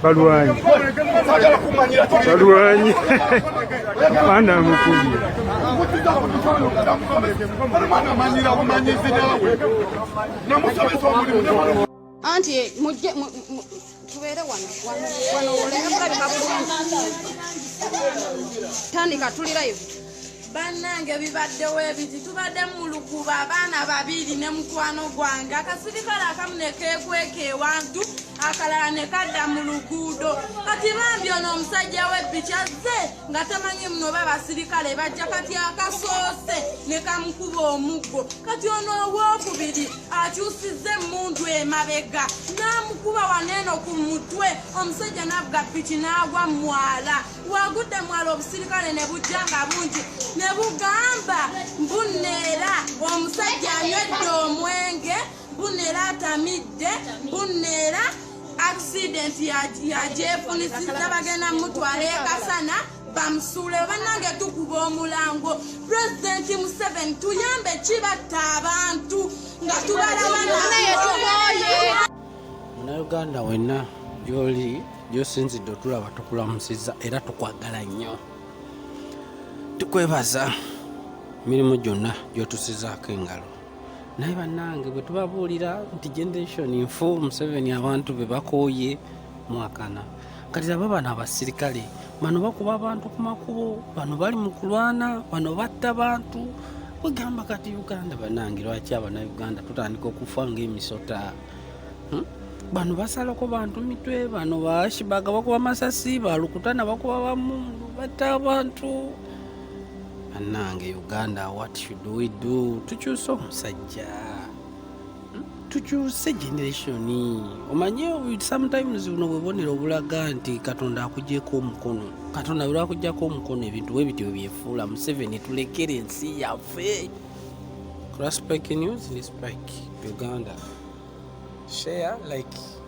balwanyi balwanyi mwana mukulu anti mujje tubeere wano wano wano olengabulabika bulungi tandika tuli live bannange bibaddewo ebiti tubadde mulukuba abaana babiri ne mukwano gwange akasirikale akamu nekekweka ewantu akalala nekadda mu luguudo kati bambi ono omusajja webbiki azze nga tamanyi muno oba basirikale bajja kati akasoose nekamukuba omuggo kati ono owokubiri akyusiza emundu emabega namukuba waneeno ku mutwe omusajja navuga piki nagwa mwala wagudde mwala obusirikale ne bujja nga bungi ne bugamba mbuneera omusajja anywedde omwenge mbuneera atamidde mbuneera accident yagyefunisiza bagenda mutwala ekasana bamusuule banange tukuba omulango pulezidenti museveni tuyambe kibatta abantu nga tubalabana munauganda wenna gyoli gyosinzidde otulaba tukulamusiza era tukwagala nnyo tukwebaza mirimu gyonna gyotusizaako engalo naye bannange bwe tubabuulira nti generation nfu museveni abantu be bakooye mwakana kati aba bano abasirikale bano bakuba abantu ku makubo bano bali mu kulwana bano batta bantu wegamba kati uganda banange lwaki abanauganda tutandika okufa ngaemisota hmm? bano basalako bantu mitwe bano bashibaga bakuba masasi balukutana bakuba bamundu batta abantu banange uganda what should we do tukyuse omusajja hmm? tukyuse generation omanye sometimes buno bwebonera obulaga nti katonda akujeko omukono katonda bwelwakujjako omukono ebintu bwebityo byefuula museveni tulekere ensi yaffe Cross Pike News ni Spike Uganda. Share, like.